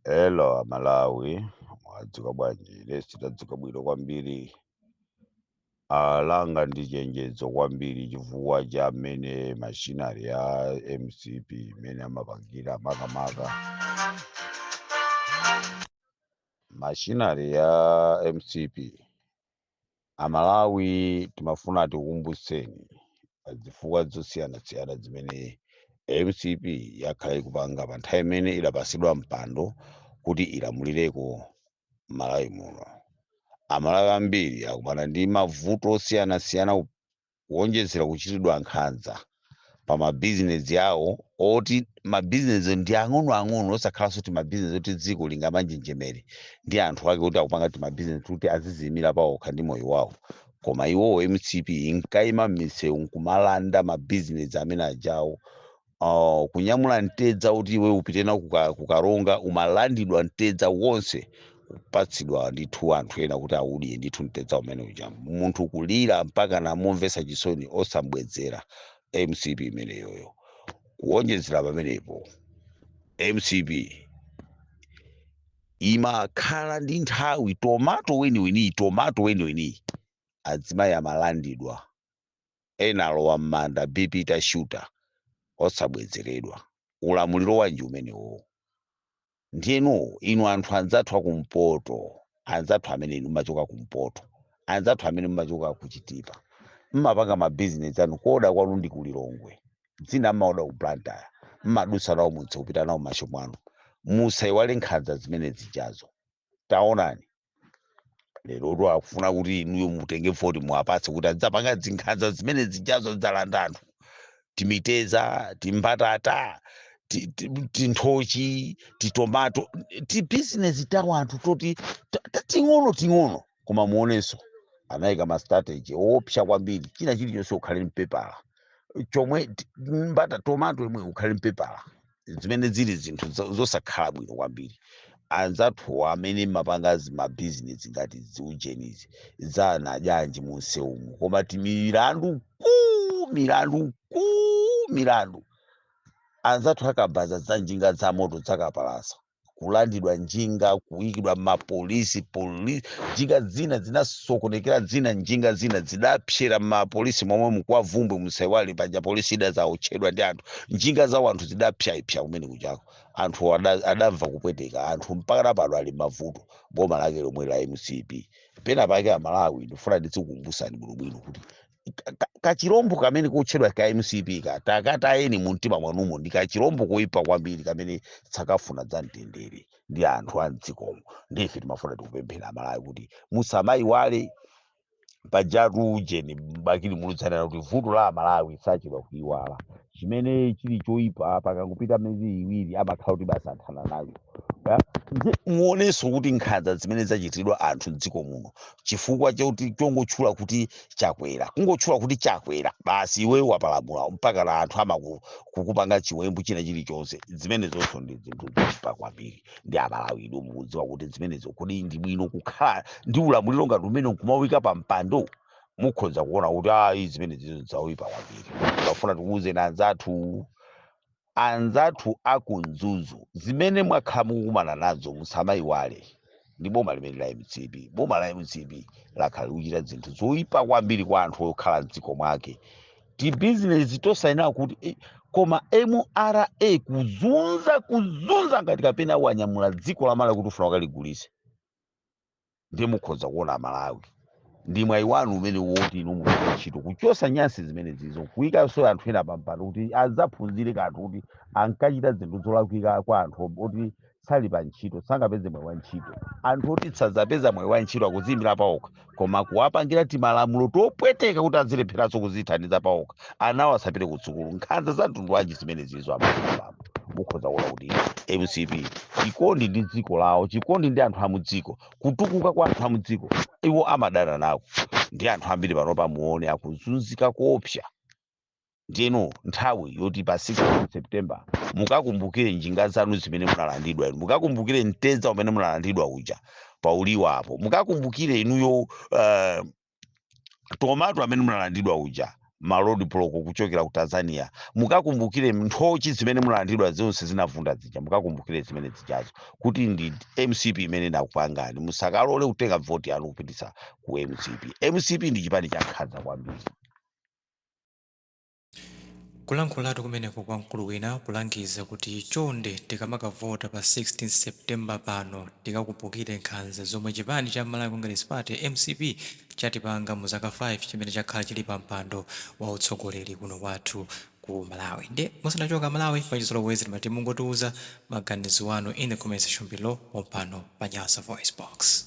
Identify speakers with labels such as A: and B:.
A: Hello Malawi, mwadzuka bwanji? Lesi tadzuka bwino kwambiri. Ah, langa ndi chenjezo kwambiri chifukwa cha mmene mashinari ya MCP imene amapangira makamaka mashinari ya MCP Amalawi timafuna tikukumbutseni pa zifukwa zosiyanasiyana zimene mcp yakhala ikupanga pa nthawi imene idapatsidwa mpando kuti ilamulireko m'Malawi muno. Amalawi ambiri akumana ndi mavuto osiyanasiyana. kuonjezera kuchitidwa nkhanza pa mabizinezi awo oti mabizinezi ndi ang'onoang'ono osakhalanso kuti mabizinezi oti dziko lingamanjenjemere ndi anthu ake kuti akupanga timabizinezi kuti aziziyimira paokha ndi moyo wawo koma iwowo mcp inkayima m'misewu nkumalanda mabizinezi amene ajawo uh, kunyamula mtedza uti iwe upite nawo kuka- ku Karonga umalandidwa mtedza wonse kupatsidwa ndithu anthu ena kuti audye ndithu mtedza umene uja munthu kulira mpaka namumvesa chisoni osambwezera mcp imeneyoyo kuonjezera pamenepo mcp imakhala ndi nthawi tomato weniweniyi tomato weniweniyi adzimai amalandidwa ena alowa mmanda BP itashuta osabwezeredwa. Ulamuliro wanji umenewowo? Ndiyeno inu anthu anzathu akumpoto, anzathu amene inu mmachoka kumpoto, anzathu amene mmachoka ku Chitipa, mmapanga ma business anu kuoda kwanu ndi ku Lilongwe, zina mmaoda ku Blantyre, mmadutsa nawo mumsewu kupita nawo mmashopu mwanu, musaiwale nkhanza zimene zijazo. taonani lerotu akufuna kuti inuyo mutenge voti muwapatse kuti azidzapanga zinkhanza zimene zijazo dzalanda anthu timitedza timbatata ti- ti- tinthochi titomato tibizinesi ta wanthu toti ta- ta- ting'ono ting'ono koma muonenso anayika mastrategy oopsa kwambiri china chilichonse ukhale n'pepala chomwe t- mbata tomato imweyo ukhale n'pepala zimene zili zinthu zo- zosakhala bwino kwambiri anzathuwa amene mmapanga zimabizinesi ngati ziujenizi zanadyanji munsewumu koma timilandu kuu milandu kuu milandu anzathu akabaza za njinga za moto zakapalasa kulandidwa njinga kuikidwa mmapolisi polisi njinga zina zinasokonekera zina njinga zina zidapsera mmapolisi momwemu kwa Bvumbwe musaiwale paja polisi idazaotchedwa ndi anthu njinga za wanthu zidapsyaipsya kumene kujako anthu ada- adamva kupweteka anthu mpaka napano ali mmavuto boma lake lomwe la mcp pena pake amalawi ndifuna ndizikumbusani bwinobwino kuti ka- ka- kachirombo kamene kotchedwa ka mcp ka takatayeni mu mtima mwanumo ndi kachirombo koyipa kwambiri kamene sakafuna za mtendere ndi anthu a mdzikomo ndife timafuna tikupemphera amalawi kuti musamayiwale pajatu ujeni bakili muluzi ananena kuti vuto la amalawi sachedwa kuyiwala chimene chili choipa pakangopita miyezi iwiri amakhala kuti basi athana nayo. Nde muonenso kuti nkhanza zimene zachitidwa anthu mdziko muno chifukwa choti chongotchula kuti chakwera kungotchula kuti chakwera basi iwe wapalamula mpaka na anthu amaku kukupanga chiwembu china chilichonse zimenezonso ndi zinthu zoipa kwambiri ndi amalawi inu mukudziwa kuti zimenezo kodi ndi bwino kukhala ndi ulamuliro ngati umenewu nkumawaika pa mpando mukhoza kuona kuti ayi zimene zizo zaipa kwambiri tafuna tikuwuzeni anzathu anzathu aku Mzuzu zimene mwakhala mukukumana nazo musamayiwale ndi boma limeneli la mcp boma la mcp lakhala likuchita zinthu zoyipa kwambiri kwa anthu okhala mdziko mwake tibizinesi tosayenera kuti eh, koma mra kuzunza kuzunza ngati kapena wanyamula dziko la malawi kuti ufuna ukaligulise ndiye mukhoza kuona amalawi ndi mwayi wanu umenewu woti inu mugwire ntchito kuchosa nyansi zimene zizo kuyikanso anthu ena pampando kuti azaphunzire kanthu kuti ankachita zinthu zolakwika kwa anthu ob- oti sali pa ntchito sangapeze mwayi wa ntchito anthu oti sadzapeza mwayi wa ntchito akuziyimira paokha koma kuwapangira timalamulo topweteka kuti azilepheranso kuzithandiza paokha anawo asapite ku sukulu nkhanza za mtundu wanji zimene zizo amalawi mukhoza kuona kuti mcp chikondi ndi dziko lawo chikondi ndi anthu amudziko kutukuka kwa anthu amudziko iwo amadana nako ndi anthu ambiri panopa muone akuzunzika koopsa ndiye ino nthawi yoti pa 16 september mukakumbukire njinga zanu zimene munalandidwa inu mukakumbukire mtedza umene munalandidwa uja pauliwa apo mukakumbukire inuyo uh, tomato amene munalandidwa uja ma road block kuchokera ku tanzania mukakumbukire nthochi zimene munalandidwa zonse zinavunda zija mukakumbukire zimene zijazo kuti ndi mcp imene inakupangani musakalole kutenga voti yanu kupititsa ku mcp mcp ndi chipani cha nkhanza kwambiri
B: Kulankhulatu kumeneko kwa mkulu wina kulangiza kuti chonde tikamakavota pa 16 September pano tikakumbukire nkhanza zomwe chipani cha Malawi Congress Party, mcp, chatipanga mu zaka 5 chimene chakhala chili pa mpando wa utsogoleri kuno kwathu ku Malawi. Ndiye musanachoke a Malawi mwachizolowezi timati mungotiuza maganizo anu in the comment section below pompano pa Nyasa VoiceBox.